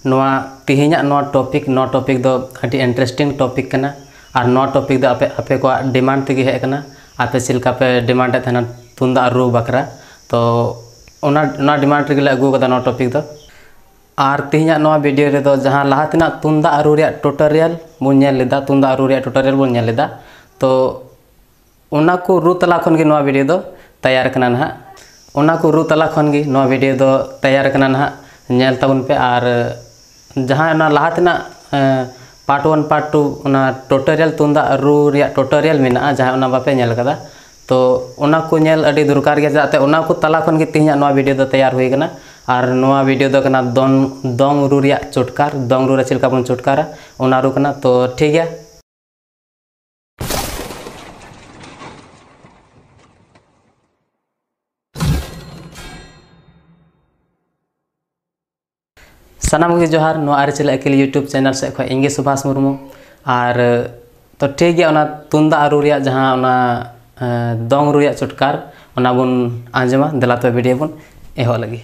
ᱱᱚᱣᱟ ᱛᱮᱦᱮᱧᱟᱜ ᱱᱚᱣᱟ ᱴᱚᱯᱤᱠ ᱱᱚᱣᱟ ᱴᱚᱯᱤᱠ ᱫᱚ ᱟᱹᱰᱤ ᱤᱱᱴᱟᱨᱮᱥᱴᱤᱝ ᱴᱚᱯᱤᱠ ᱠᱟᱱᱟ ᱟᱨ ᱱᱚᱣᱟ ᱴᱚᱯᱤᱠ ᱫᱚ ᱟᱯᱮ ᱟᱯᱮ ᱠᱚᱣᱟᱜ ᱰᱤᱢᱟᱱᱰ ᱛᱮᱜᱮ ᱦᱮᱡ ᱟᱠᱟᱱᱟ ᱟᱯᱮ ᱪᱮᱫ ᱞᱮᱠᱟ ᱯᱮ ᱰᱤᱢᱟᱱᱰ ᱮᱫ ᱛᱟᱦᱮᱱᱟ ᱛᱩᱢᱫᱟᱜ ᱨᱩ ᱵᱟᱠᱷᱨᱟ ᱛᱚ ᱚᱱᱟ ᱚᱱᱟ ᱰᱤᱢᱟᱱᱰ ᱨᱮᱜᱮᱞᱮ ᱟᱹᱜᱩ ᱟᱠᱟᱫᱟ ᱱᱚᱣᱟ ᱴᱚᱯᱤᱠ ᱫᱚ ᱟᱨ ᱛᱮᱦᱮᱧᱟᱜ ᱱᱚᱣᱟ ᱵᱷᱤᱰᱤᱭᱳ ᱨᱮᱫᱚ ᱡᱟᱦᱟᱸ ᱞᱟᱦᱟ ᱛᱮᱱᱟᱜ ᱛᱩᱢᱫᱟᱜ ᱨᱩ ᱨᱮᱭᱟᱜ ᱴᱩᱴᱳᱨᱤᱭᱟᱞ ᱵᱚᱱ ᱧᱮᱞ ᱞᱮᱫᱟ ᱛᱩᱢᱫᱟᱜ ᱨᱩ ᱨᱮᱭᱟᱜ ᱴᱩᱴᱳᱨᱤᱭᱟᱞ ᱵᱚᱱ ᱧᱮᱞ ᱞᱮᱫᱟ ᱛᱚ ᱚᱱᱟ ᱠᱚ ᱨᱩ ᱛᱟᱞᱟ ᱠᱷᱚᱱ ᱜᱮ ᱱᱚᱣᱟ ᱵᱷᱤᱰᱤᱭᱳ ᱫᱚ ᱛᱮᱭᱟᱨ ᱠᱟᱱᱟ ᱱᱟᱦᱟᱜ ᱚᱱᱟ ᱠᱚ ᱨᱩ ᱛᱟᱞᱟ ᱠᱷᱚᱱ ᱜᱮ ᱱᱚᱣᱟ ᱵᱷᱤᱰᱤᱭᱳ ᱫᱚ ᱛᱮᱭᱟᱨ ᱠᱟᱱᱟ ᱱᱟᱦᱟᱜ ᱧᱮᱞ ᱛᱟᱵᱚᱱ ᱯᱮ ᱟᱨ ᱡᱟᱦᱟᱸ ᱚᱱᱟ ᱞᱟᱦᱟ ᱛᱮᱱᱟᱜ ᱯᱟᱨᱴ ᱚᱣᱟᱱ ᱯᱟᱨᱴ ᱴᱩ ᱚᱱᱟ ᱴᱳᱴᱳᱨᱤᱭᱟᱞ ᱛᱩᱢᱫᱟᱜ ᱨᱩ ᱨᱮᱭᱟᱜ ᱴᱳᱴᱳᱨᱤᱭᱟᱞ ᱢᱮᱱᱟᱜᱼᱟ ᱡᱟᱦᱟᱸᱭ ᱚᱱᱟ ᱵᱟᱯᱮ ᱧᱮᱞ ᱠᱟᱫᱟ ᱛᱚ ᱚᱱᱟ ᱠᱚ ᱧᱮᱞ ᱟᱹᱰᱤ ᱫᱚᱨᱠᱟᱨ ᱜᱮᱭᱟ ᱪᱮᱫᱟᱜ ᱛᱮ ᱚᱱᱟ ᱠᱚ ᱛᱟᱞᱟ ᱠᱷᱚᱱ ᱜᱮ ᱛᱮᱦᱮᱧᱟᱜ ᱱᱚᱣᱟ ᱵᱷᱤᱰᱤᱭᱳ ᱫᱚ ᱛᱮᱭᱟᱨ ᱦᱩᱭ ᱠᱟᱱᱟ ᱟᱨ ᱱᱚᱣᱟ ᱵᱷᱤᱰᱤᱭᱳ ᱫᱚ ᱠᱟᱱᱟ ᱫᱚᱝ ᱫᱚᱝ ᱨᱩ ᱨᱮᱭᱟᱜ ᱪᱚᱴᱠᱟᱨ ᱫᱚᱝ ᱨᱩ ᱨᱮ ᱪᱮᱫ ᱞᱮᱠᱟ ᱵᱚᱱ ᱪᱚᱴᱠᱟᱨᱟ ᱚᱱᱟ ᱨᱩ ᱠᱟᱱᱟ ᱛᱚ ᱴᱷᱤᱠ ᱜᱮᱭᱟ ᱥᱟᱱᱟᱢ ᱜᱮ ᱡᱚᱦᱟᱨ ᱱᱚᱣᱟ ᱟᱹᱨᱤᱪᱟᱹᱞᱤ ᱟᱹᱠᱤᱞ ᱭᱩᱴᱩᱵᱽ ᱪᱮᱱᱮᱞ ᱥᱮᱫ ᱠᱷᱚᱱ ᱤᱧᱜᱮ ᱥᱩᱵᱷᱟᱥ ᱢᱩᱨᱢᱩ ᱟᱨ ᱛᱚ ᱴᱷᱤᱠ ᱜᱮᱭᱟ ᱚᱱᱟ ᱛᱩᱢᱫᱟᱜ ᱨᱩ ᱨᱮᱭᱟᱜ ᱡᱟᱦᱟᱸ ᱚᱱᱟ ᱫᱚᱝ ᱨᱩ ᱨᱮᱭᱟᱜ ᱪᱚᱴᱠᱟᱨ ᱚᱱᱟ ᱵᱚᱱ ᱟᱸᱡᱚᱢᱟ ᱫᱮᱞᱟ ᱛᱚᱵᱮ ᱵᱷᱤᱰᱤᱭᱳ ᱵᱚᱱ ᱮᱦᱚᱵ ᱞᱟᱹᱜᱤᱫ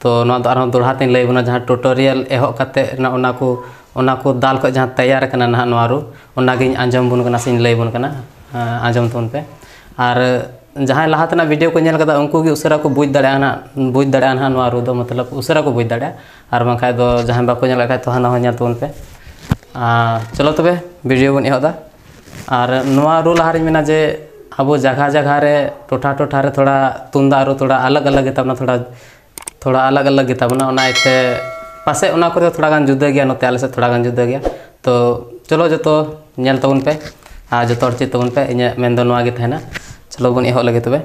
ᱛᱚ ᱱᱚᱣᱟ ᱫᱚ ᱟᱨᱦᱚᱸ ᱫᱚᱲᱦᱟ ᱛᱮᱧ ᱞᱟᱹᱭ ᱟᱵᱚᱱᱟ ᱡᱟᱦᱟᱸ ᱴᱩᱴᱳᱨᱤᱭᱟᱞ ᱮᱦᱚᱵ ᱠᱟᱛᱮ ᱱᱚᱜᱼᱚ ᱱᱟ ᱠᱚ ᱚᱱᱟ ᱠᱚ ᱫᱟᱞ ᱠᱷᱚᱡ ᱡᱟᱦᱟᱸ ᱛᱮᱭᱟᱨ ᱠᱟᱱᱟ ᱱᱟᱦᱟᱜ ᱱᱚᱣᱟ ᱨᱩ ᱚᱱᱟᱜᱤᱧ ᱟᱸᱡᱚᱢ ᱟᱵᱚᱱ ᱠᱟᱱᱟ ᱥᱮᱧ ᱞᱟᱹᱭ ᱟᱵᱚᱱ ᱠᱟᱱᱟ ᱟᱸᱡᱚᱢ ᱛᱟᱵᱚᱱ ᱯᱮ ᱟᱨ ᱡᱟᱦᱟᱸᱭ ᱞᱟᱦᱟ ᱛᱮᱱᱟᱜ ᱵᱷᱤᱰᱤᱭᱳ ᱠᱚ ᱧᱮᱞ ᱠᱟᱫᱟ ᱩᱱᱠᱩ ᱜᱮ ᱩᱥᱟᱹᱨᱟ ᱠᱚ ᱵᱩᱡᱽ ᱫᱟᱲᱮᱭᱟᱜᱼᱟ ᱱᱟᱦᱟᱜ ᱵᱩᱡᱽ ᱫᱟᱲᱮᱭᱟᱜᱼᱟ ᱱᱟᱦᱟᱜ ᱱᱚᱣᱟ ᱨᱩ ᱫᱚ ᱢᱚᱛᱞᱚᱵ ᱩᱥᱟᱹᱨᱟ ᱠᱚ ᱵᱩᱡᱽ ᱫᱟᱲᱮᱭᱟᱜᱼᱟ ᱟᱨ ᱵᱟᱝᱠᱷᱟᱡ ᱫᱚ ᱡᱟᱦᱟᱸᱭ ᱵᱟᱠᱚ ᱧᱮᱞ ᱠᱟᱜ ᱠᱷᱟᱡ ᱛᱚ ᱦᱟᱱᱟ ᱦᱚᱸ ᱧᱮᱞ ᱛᱟᱵᱚᱱ ᱯᱮ ᱟᱨ ᱪᱚᱞᱚ ᱛᱚᱵᱮ ᱵᱷᱤᱰᱤᱭᱳ ᱵᱚᱱ ᱮᱦᱚᱵ ᱮᱫᱟ ᱟᱨ ᱱᱚᱣᱟ ᱨᱩ ᱞᱟᱦᱟ ᱨᱮᱧ ᱢᱮᱱᱟ ᱡᱮ ᱟᱵᱚ ᱡᱟᱭᱜᱟ ᱡᱟᱭᱜᱟ ᱨᱮ ᱴᱚᱴᱷᱟ ᱴᱚᱴᱷᱟ ᱨᱮ ᱛᱷᱚᱲᱟ ᱛᱩᱢᱫᱟᱜ ᱨᱩ ᱛᱷᱚᱲᱟ ᱟᱞᱟᱜᱽ ᱟᱞᱟᱜᱽ ᱜᱮᱛᱟ ᱵᱚᱱᱟ ᱛᱷᱚᱲᱟ ᱛᱷᱚᱲᱟ ᱟᱞᱟᱜᱽ ᱟᱞᱟᱜᱽ ᱜᱮᱛᱟ ᱵᱚᱱᱟ ᱚᱱᱟ ᱤᱭᱟᱹᱛᱮ ᱯᱟᱥᱮᱡ ᱚᱱᱟ ᱠᱚᱫᱚ ᱛᱷᱚᱲᱟ ᱜᱟᱱ ᱡᱩᱫᱟᱹ ᱜᱮᱭᱟ ᱱᱚᱛᱮ ᱟᱞᱮ ᱥᱮᱫ ᱛᱷᱚᱲᱟ ᱜᱟᱱ ᱡᱩᱫᱟᱹ ᱜᱮᱭᱟ ᱛᱚ ᱪᱚᱞᱚ ᱡᱚᱛᱚ ᱧᱮᱞ ᱛᱟᱵᱚᱱ ᱯᱮ ᱟᱨ ᱡᱚᱛᱚ ᱦᱚᱲ ᱪᱮᱫ ᱛᱟᱵᱚᱱ ᱯᱮ ᱤᱧᱟᱹᱜ ᱢᱮᱱ ᱫᱚ ᱱᱚᱣᱟ ᱜᱮ ᱛᱟᱦᱮᱱᱟ ᱪᱚᱞᱚ ᱵᱚᱱ ᱮᱦᱚᱵ ᱞᱮᱜᱮ ᱛᱚᱵᱮ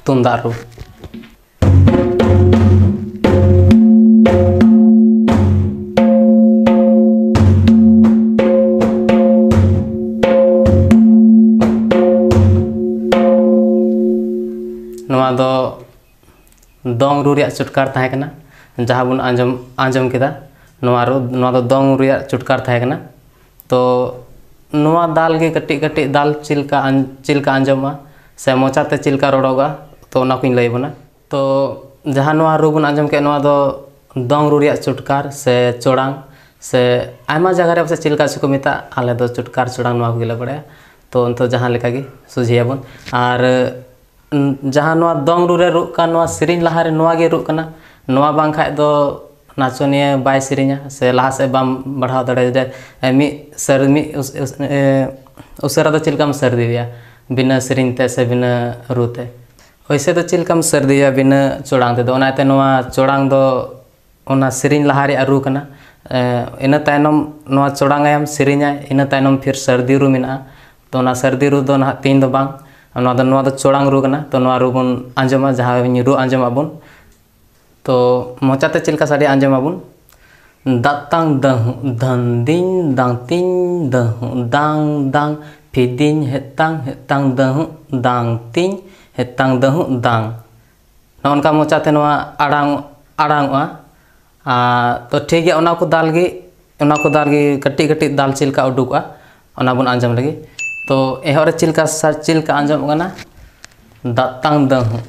ᱛᱩᱢᱫᱟᱜ ᱨᱩ ᱱᱚᱣᱟ ᱫᱚ ᱫᱚᱝ ᱨᱩ ᱨᱮᱭᱟᱜ ᱪᱩᱴᱠᱟᱨ ᱛᱟᱦᱮᱸ ᱠᱟᱱᱟ ᱡᱟᱦᱟᱸ ᱵᱚᱱ ᱟᱸᱡᱚᱢ ᱟᱸᱡᱚᱢ ᱠᱮᱫᱟ ᱱᱚᱣᱟ ᱨᱩ ᱱᱚᱣᱟ ᱫᱚ ᱫᱚᱝ ᱨᱩ ᱨᱮᱭᱟᱜ ᱪᱩᱴᱠᱟᱨ ᱛᱟᱦᱮᱸ ᱠᱟᱱᱟ ᱛᱚ ᱱᱚᱣᱟ ᱫᱟᱞ ᱜᱮ ᱠᱟᱹᱴᱤᱡ ᱠᱟᱹᱴᱤᱡ ᱫᱟᱞ ᱪᱮᱫ ᱞᱮᱠᱟ ᱪᱮᱫ ᱞᱮᱠᱟ ᱟᱸᱡᱚᱢᱚᱜᱼᱟ ᱥᱮ ᱢᱚᱪᱟ ᱛᱮ ᱪᱮᱫ ᱞᱮᱠᱟ ᱨᱚᱲᱚᱜᱼᱟ ᱛᱚ ᱚᱱᱟ ᱠᱚᱧ ᱞᱟᱹᱭ ᱟᱵᱚᱱᱟ ᱛᱚ ᱡᱟᱦᱟᱸ ᱱᱚᱣᱟ ᱨᱩ ᱵᱚᱱ ᱟᱸᱡᱚᱢ ᱠᱮᱫ ᱱᱚᱣᱟ ᱫᱚ ᱫᱚᱝ ᱨᱩ ᱨᱮᱭᱟᱜ ᱪᱩᱴᱠᱟᱨ ᱥᱮ ᱪᱚᱲᱟᱝ ᱥᱮ ᱟᱭᱢᱟ ᱡᱟᱭᱜᱟ ᱨᱮ ᱯᱟᱥᱮᱡ ᱪᱮᱫ ᱞᱮᱠᱟ ᱪᱚᱠᱚ ᱢᱮᱛᱟᱜ ᱟᱞᱮ ᱫᱚ ᱪᱩᱴᱠᱟᱨ ᱪᱚᱲᱟᱝ ᱱᱚᱣᱟ ᱠᱚᱜᱮᱞᱮ ᱵᱟᱲᱟᱭᱟ ᱛᱚ ᱱᱤᱛᱚᱜ ᱡᱟᱦᱟᱸ ᱞᱮᱠᱟᱜᱮ ᱥᱚᱡᱷᱮᱭᱟᱵᱚᱱ ᱟᱨ ᱡᱟᱦᱟᱸ ᱱᱚᱣᱟ ᱫᱚᱝ ᱨᱩ ᱨᱮ ᱨᱩᱜ ᱠᱟᱱ ᱱᱚᱣᱟ ᱥᱮᱨᱮᱧ ᱞᱟᱦᱟ ᱨᱮ ᱱᱚᱣᱟ ᱜᱮ ᱨᱩᱜ ᱠᱟᱱᱟ ᱱᱚᱣᱟ ᱵᱟᱝ ᱠᱷᱟᱡ ᱫᱚ ᱱᱟᱪᱚᱱᱤᱭᱟᱹ ᱵᱟᱭ ᱥᱮᱨᱮᱧᱟ ᱥᱮ ᱞᱟᱦᱟ ᱥᱮᱡ ᱵᱟᱢ ᱵᱟᱲᱦᱟᱣ ᱫᱟᱲᱮᱭᱟᱭᱟ ᱢᱤᱫ ᱥᱮᱨ ᱢᱤᱫ ᱩᱥᱟᱹᱨᱟ ᱫᱚ ᱪᱮᱫ ᱞᱮᱠᱟᱢ ᱥᱟᱹᱨᱫᱤᱭᱮᱭᱟ ᱵᱤᱱᱟᱹ ᱥᱮᱨᱮᱧ ᱛᱮ ᱥᱮ ᱵᱤᱱᱟᱹ ᱨᱩ ᱛᱮ ᱳᱭᱥᱮ ᱫᱚ ᱪᱮᱫ ᱞᱮᱠᱟᱢ ᱥᱟᱹᱨᱫᱤᱭᱮᱭᱟ ᱵᱤᱱᱟᱹ ᱪᱚᱲᱟᱝ ᱛᱮᱫᱚ ᱚᱱᱟᱛᱮ ᱱᱚᱣᱟ ᱪᱚᱲᱟᱝ ᱫᱚ ᱚᱱᱟ ᱥᱮᱨᱮᱧ ᱞᱟᱦᱟ ᱨᱮᱭᱟᱜ ᱨᱩ ᱠᱟᱱᱟ ᱤᱱᱟᱹ ᱛᱟᱭᱱᱚᱢ ᱱᱚᱣᱟ ᱪᱚᱲᱟᱝ ᱟᱭᱟᱢ ᱥᱮᱨᱮᱧᱟᱭ ᱤᱱᱟᱹ ᱛᱟᱭᱱᱚᱢ ᱯᱷᱤᱨ ᱥᱟᱹᱨᱫᱤ ᱨᱩ ᱢᱮᱱᱟᱜᱼᱟ ᱛᱚ ᱚᱱᱟ ᱥᱟᱹᱨᱫᱤ ᱨᱩ ᱫᱚ ᱱᱟᱦᱟᱜ ᱛᱮᱦᱮᱧ ᱫᱚ ᱵᱟᱝ ᱱᱚᱣᱟ ᱫᱚ ᱱᱚᱣᱟ ᱫᱚ ᱪᱚᱲᱟᱝ ᱨᱩ ᱠᱟᱱᱟ ᱛᱚ ᱱᱚᱣᱟ ᱨᱩ ᱵᱚᱱ ᱟᱸᱡᱚᱢᱟ ᱡᱟᱦᱟᱸ ᱨᱩ ᱟᱸᱡᱚᱢ ᱟᱵᱚᱱ ᱛᱚ ᱢᱚᱪᱟ ᱛᱮ ᱪᱮᱫ ᱞᱮᱠᱟ ᱥᱟᱰᱮᱭᱟ ᱟᱸᱡᱚᱢ ᱟᱵᱚᱱ ᱫᱟᱛᱟᱝ ᱫᱟᱹᱦᱩᱸᱜ ᱫᱷᱟᱹᱝ ᱫᱤᱝ ᱫᱟᱝ ᱛᱤᱝ ᱫᱟᱹᱦᱩᱸᱜ ᱫᱟᱝ ᱫᱟᱝ ᱯᱷᱤᱫᱤᱝ ᱦᱮᱛᱟᱝ ᱦᱮᱛᱟᱝ ᱫᱟᱹᱦᱩᱸᱜ ᱫᱟᱝ ᱛᱤᱝ ᱦᱮᱛᱟᱝ ᱫᱟᱹᱦᱩᱸᱜ ᱫᱟᱝ ᱱᱚᱜᱼᱚ ᱱᱚᱝᱠᱟ ᱢᱚᱪᱟᱛᱮ ᱱᱚᱣᱟ ᱟᱲᱟᱝ ᱟᱲᱟᱝᱚᱜᱼᱟ ᱟᱨ ᱛᱚ ᱴᱷᱤᱠ ᱜᱮᱭᱟ ᱚᱱᱟ ᱠᱚ ᱫᱟᱞ ᱜᱮ ᱚᱱᱟ ᱠᱚ ᱫᱟᱞ ᱜᱮ ᱠᱟᱹᱴᱤᱡ ᱠᱟᱹᱴᱤᱡ ᱫᱟᱞ ᱪᱮᱫ ᱞᱮᱠᱟ ᱩᱰᱩᱠᱚᱜᱼᱟ ᱚᱱᱟ ᱵᱚᱱ ᱟᱸᱡᱚᱢ ᱞᱮᱜᱮ ᱛᱚ ᱮᱦᱚᱵ ᱨᱮ ᱪᱮᱫ ᱞᱮᱠᱟ ᱥᱟᱨ ᱪᱮᱫ ᱞᱮᱠᱟ ᱟᱸᱡᱚᱢᱚᱜ ᱠᱟᱱᱟ ᱫᱟᱛᱟᱝ ᱫᱟᱹᱦᱩᱜ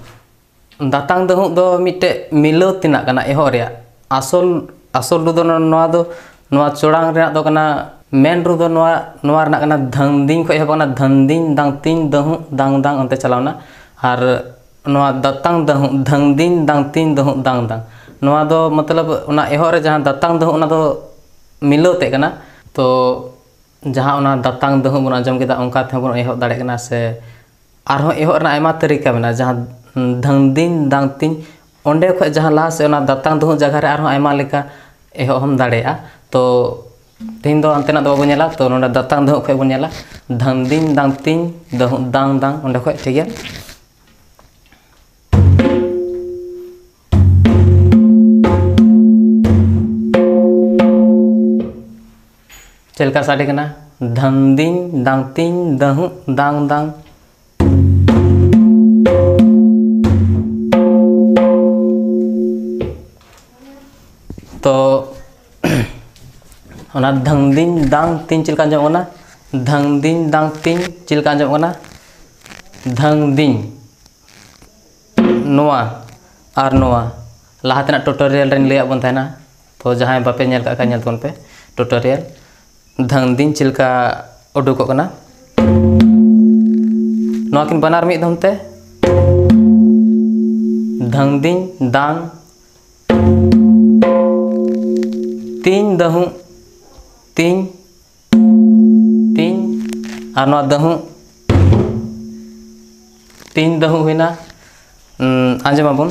ᱫᱟᱛᱟᱝ ᱫᱟᱹᱦᱩᱜ ᱫᱚ ᱢᱤᱫᱴᱮᱡ ᱢᱤᱞᱟᱹᱣ ᱛᱮᱱᱟᱜ ᱠᱟᱱᱟ ᱮᱦᱚᱵ ᱨᱮᱭᱟᱜ ᱟᱥᱚᱞ ᱟᱥᱚᱞ ᱨᱩ ᱫᱚ ᱱᱚᱣᱟ ᱫᱚ ᱱᱚᱣᱟ ᱪᱚᱲᱟᱝ ᱨᱮᱱᱟᱜ ᱫᱚ ᱠᱟᱱᱟ ᱢᱮᱱ ᱨᱩ ᱫᱚ ᱱᱚᱣᱟ ᱱᱚᱣᱟ ᱨᱮᱱᱟᱜ ᱠᱟᱱᱟ ᱫᱷᱟᱝᱫᱤᱝ ᱠᱷᱚᱡ ᱮᱦᱚᱵᱚᱜ ᱠᱟᱱᱟ ᱫᱷᱟᱝᱫᱤᱝ ᱫᱟᱝᱛᱤᱝ ᱫᱟᱹᱦᱩᱜ ᱫᱟᱝ ᱫᱟᱝ ᱚᱱᱛᱮ ᱪᱟᱞᱟᱣᱱᱟ ᱟᱨ ᱱᱚᱣᱟ ᱫᱟᱛᱟᱝ ᱫᱟᱹᱦᱩᱜ ᱫᱷᱟᱹᱝ ᱫᱤᱝ ᱫᱟᱝ ᱛᱤᱝ ᱫᱟᱹᱦᱩᱜ ᱫᱟᱝ ᱫᱟᱝ ᱱᱚᱣᱟ ᱫᱚ ᱢᱚᱛᱞᱚᱵ ᱚᱱᱟ ᱮᱦᱚᱵ ᱨᱮ ᱡᱟᱦᱟᱸ ᱫᱟᱛᱟᱝ ᱫᱟᱹᱦᱩᱜ ᱚᱱᱟ ᱫᱚ ᱢᱤᱞᱟᱹᱣ ᱛᱮᱫ ᱠᱟᱱᱟ ᱛᱚ ᱡᱟᱦᱟᱸ ᱚᱱᱟ ᱫᱟᱛᱟᱝ ᱫᱟᱹᱦᱩᱜ ᱵᱚᱱ ᱟᱸᱡᱚᱢ ᱠᱮᱫᱟ ᱚᱱᱠᱟ ᱛᱮᱦᱚᱸ ᱵᱚᱱ ᱮᱦᱚᱵ ᱫᱟᱲᱮᱭᱟᱜ ᱠᱟᱱᱟ ᱥᱮ ᱟᱨᱦᱚᱸ ᱮᱦᱚᱵ ᱨᱮᱱᱟᱜ ᱟᱭᱢᱟ ᱛᱟᱹᱨᱤᱠᱟ ᱢᱮᱱᱟᱜᱼᱟ ᱡᱟᱦᱟᱸ ᱫᱷᱟᱹᱝ ᱫᱤᱝ ᱫᱟᱝ ᱛᱤᱝ ᱚᱸᱰᱮ ᱠᱷᱚᱱ ᱡᱟᱦᱟᱸ ᱞᱟᱦᱟ ᱥᱮᱫ ᱚᱱᱟ ᱫᱟᱛᱟᱝ ᱫᱟᱹᱦᱩᱜ ᱡᱟᱭᱜᱟ ᱨᱮ ᱟᱨᱦᱚᱸ ᱟᱭᱢᱟ ᱞᱮᱠᱟ ᱮᱦᱚᱵ ᱦᱚᱸᱢ ᱫᱟᱲᱮᱭᱟᱜᱼᱟ ᱛᱚ ᱛᱮᱦᱮᱧ ᱫᱚ ᱦᱟᱱᱛᱮᱱᱟᱜ ᱫᱚ ᱵᱟᱵᱚᱱ ᱧᱮᱞᱟ ᱛᱚ ᱱᱚᱰᱮ ᱫᱟᱛᱟᱝ ᱫᱚᱦᱚ ᱠᱷᱚᱡ ᱵᱚᱱ ᱧᱮᱞᱟ ᱫᱷᱟᱝᱫᱤᱝ ᱫᱟᱝᱛᱤᱝ ᱫᱟᱝ ᱫᱟᱝ ᱫᱟᱝ ᱚᱸᱰᱮ ᱠᱷᱚᱡ ᱴᱷᱤᱠ ᱜᱮᱭᱟ ᱪᱮᱫ ᱞᱮᱠᱟ ᱥᱟᱰᱮ ᱠᱟᱱᱟ ᱫᱷᱟᱝᱫᱤᱝ ᱫᱟᱝᱛᱤᱝ ᱫᱟᱹᱦᱩᱜ ᱫᱟᱝ ᱫᱟᱝ ᱛᱚ ᱚᱱᱟ ᱫᱷᱟᱝᱫᱤᱧ ᱫᱟᱝ ᱛᱤᱧ ᱪᱮᱫ ᱞᱮᱠᱟ ᱟᱸᱡᱚᱢᱚᱜ ᱠᱟᱱᱟ ᱫᱷᱟᱝᱫᱤᱧ ᱫᱟᱝ ᱛᱤᱧ ᱪᱮᱫ ᱞᱮᱠᱟ ᱟᱸᱡᱚᱢᱚᱜ ᱠᱟᱱᱟ ᱫᱷᱟᱝᱫᱤᱧ ᱱᱚᱣᱟ ᱟᱨ ᱱᱚᱣᱟ ᱞᱟᱦᱟ ᱛᱮᱱᱟᱜ ᱴᱩᱴᱳᱨᱤᱭᱟᱞ ᱨᱤᱧ ᱞᱟᱹᱭᱟᱫ ᱵᱚᱱ ᱛᱟᱦᱮᱱᱟ ᱛᱚ ᱡᱟᱦᱟᱸᱭ ᱵᱟᱯᱮ ᱧᱮᱞ ᱠᱟᱜ ᱠᱷᱟᱡ ᱧᱮᱞ ᱛᱟᱵᱚᱱ ᱯᱮ ᱴᱩᱴᱳᱨᱤᱭᱟᱞ ᱫᱷᱟᱝ ᱫᱤᱱ ᱪᱮᱫ ᱞᱮᱠᱟ ᱩᱰᱩᱠᱚᱜ ᱠᱟᱱᱟ ᱱᱚᱣᱟ ᱠᱤᱱ ᱵᱟᱱᱟᱨ ᱢᱤᱫ ᱫᱷᱚᱢ ᱛᱮ ᱫᱷᱟᱝ ᱫᱤᱧ ᱫᱟᱝ ᱛᱤᱧ ᱫᱟᱹᱦᱩ ᱛᱤᱧ ᱛᱤᱧ ᱟᱨ ᱱᱚᱣᱟ ᱫᱟᱹᱦᱩ ᱛᱤᱧ ᱫᱟᱹᱦᱩ ᱦᱩᱭᱱᱟ ᱟᱸᱡᱚᱢᱟᱵᱚᱱ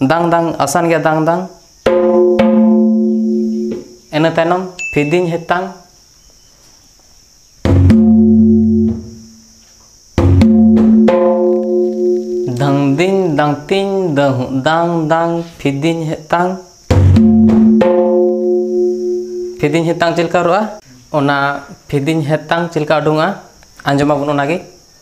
ᱫᱟᱝ ᱫᱟᱝ ᱟᱥᱟᱱ ᱜᱮᱭᱟ ᱫᱟᱝ ᱫᱟᱝ ᱤᱱᱟᱹ ᱛᱟᱭᱱᱚᱢ ᱯᱷᱤᱫᱤᱧ ᱦᱮᱛᱟᱝ ᱫᱤᱧ ᱫᱟᱝ ᱛᱤᱧ ᱫᱟᱹᱦᱩ ᱫᱟᱝ ᱫᱟᱝ ᱯᱷᱤᱫᱤᱧ ᱦᱮᱛᱟᱝ ᱯᱷᱤᱫᱤᱧ ᱦᱮᱛᱟᱝ ᱪᱮᱫ ᱞᱮᱠᱟ ᱨᱚᱜᱼᱟ ᱚᱱᱟ ᱯᱷᱤᱫᱤᱧ ᱦᱮᱛᱟᱝ ᱪᱮᱫ ᱞᱮᱠᱟ ᱩᱰᱩᱝᱚᱜᱼᱟ ᱟᱸᱡᱚᱢᱟᱵᱚᱱ ᱚᱱᱟᱜᱮ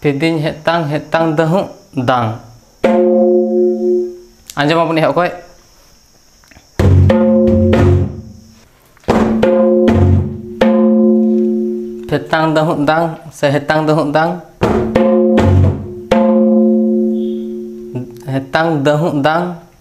ᱛᱤᱫᱤᱧ ᱦᱮᱛᱟᱝ ᱦᱮᱛᱟᱝ ᱫᱟᱹᱦᱩᱜ ᱫᱟᱝ ᱟᱸᱡᱚᱢ ᱟᱵᱚᱱ ᱮᱦᱚᱵ ᱠᱷᱚᱡ ᱦᱮᱛᱟᱝ ᱫᱟᱹᱦᱩᱜ ᱫᱟᱝ ᱥᱮ ᱦᱮᱛᱟᱝ ᱫᱟᱹᱦᱩᱜ ᱫᱟᱝ ᱦᱮᱛᱟᱝ ᱫᱟᱹᱦᱩᱜ ᱫᱟᱝ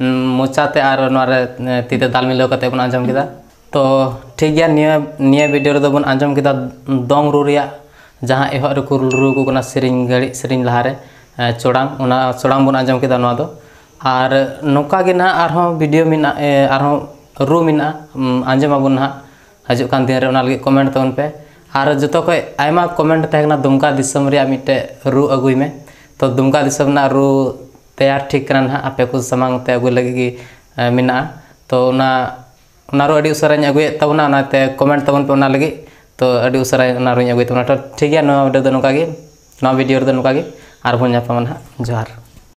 ᱢᱚᱪᱟᱛᱮ ᱟᱨ ᱱᱚᱣᱟᱨᱮ ᱛᱤᱛᱮ ᱫᱟᱞ ᱢᱤᱞᱟᱹᱣ ᱠᱟᱛᱮ ᱵᱚᱱ ᱟᱸᱡᱚᱢ ᱠᱮᱫᱟ ᱛᱚ ᱴᱷᱤᱠ ᱜᱮᱭᱟ ᱱᱤᱭᱟᱹ ᱱᱤᱭᱟᱹ ᱵᱷᱤᱰᱤᱭᱳ ᱨᱮᱫᱚ ᱵᱚᱱ ᱟᱸᱡᱚᱢ ᱠᱮᱫᱟ ᱫᱚᱝ ᱨᱩ ᱨᱮᱭᱟᱜ ᱡᱟᱦᱟᱸ ᱮᱦᱚᱵ ᱨᱮᱠᱚ ᱨᱩ ᱟᱠᱚ ᱠᱟᱱᱟ ᱥᱮᱨᱮᱧ ᱜᱷᱟᱹᱲᱤᱡ ᱥᱮᱨᱮᱧ ᱞᱟᱦᱟᱨᱮ ᱪᱚᱲᱟᱝ ᱚᱱᱟ ᱪᱚᱲᱟᱝ ᱵᱚᱱ ᱟᱸᱡᱚᱢ ᱠᱮᱫᱟ ᱱᱚᱣᱟ ᱫᱚ ᱟᱨ ᱱᱚᱝᱠᱟ ᱜᱮ ᱱᱟᱦᱟᱜ ᱟᱨᱦᱚᱸ ᱵᱷᱤᱰᱤᱭᱳ ᱢᱮᱱᱟᱜ ᱟᱨᱦᱚᱸ ᱨᱩ ᱢᱮᱱᱟᱜᱼᱟ ᱟᱸᱡᱚᱢ ᱟᱵᱚᱱ ᱱᱟᱦᱟᱜ ᱦᱤᱡᱩᱜ ᱠᱟᱱ ᱫᱤᱱᱨᱮ ᱚᱱᱟ ᱞᱟᱹᱜᱤᱫ ᱠᱚᱢᱮᱱᱴ ᱛᱟᱵᱚᱱ ᱯᱮ ᱟᱨ ᱡᱚᱛᱚ ᱠᱷᱚᱡ ᱟᱭᱢᱟ ᱠᱚᱢᱮᱱᱴ ᱛᱟᱦᱮᱸ ᱠᱟᱱᱟ ᱫᱩᱢᱠᱟ ᱫᱤᱥᱚᱢ ᱨᱮᱭᱟᱜ ᱢᱤᱫᱴᱮᱡ ᱨᱩ ᱟᱹᱜᱩᱭ ᱢᱮ ᱛᱚ ᱫᱩᱢᱠᱟ ᱫᱤᱥᱚᱢ ᱨᱮᱱᱟᱜ ᱨᱩ ᱛᱮᱭᱟᱨ ᱴᱷᱤᱠ ᱠᱟᱱᱟ ᱱᱟᱦᱟᱜ ᱟᱯᱮ ᱠᱚ ᱥᱟᱢᱟᱝ ᱛᱮ ᱟᱹᱜᱩᱭ ᱞᱟᱹᱜᱤᱫ ᱜᱮ ᱢᱮᱱᱟᱜᱼᱟ ᱛᱚ ᱚᱱᱟ ᱚᱱᱟ ᱟᱨᱚ ᱟᱹᱰᱤ ᱩᱥᱟᱹᱨᱟᱧ ᱟᱹᱜᱩᱭᱮᱫ ᱛᱟᱵᱚᱱᱟ ᱚᱱᱟᱛᱮ ᱠᱚᱢᱮᱱᱴ ᱛᱟᱵᱚᱱ ᱯᱮ ᱚᱱᱟ ᱞᱟᱹᱜᱤᱫ ᱛᱚ ᱟᱹᱰᱤ ᱩᱥᱟᱹᱨᱟ ᱚᱱᱟ ᱟᱨᱚᱧ ᱟᱹᱜᱩᱭ ᱛᱟᱵᱚᱱᱟ ᱛᱚ ᱴᱷᱤᱠ ᱜᱮᱭᱟ ᱱᱚᱣᱟ ᱵᱷᱤᱰᱭᱳ ᱫᱚ ᱱᱚᱝᱠᱟ ᱜᱮ ᱱᱚᱣᱟ ᱵᱷᱤᱰᱭᱳ ᱨᱮᱫᱚ ᱱᱚᱝᱠᱟ ᱜᱮ ᱟᱨᱵᱚᱱ ᱧᱟᱯᱟᱢᱟ ᱱᱟᱦᱟᱜ ᱡᱚᱦᱟᱨ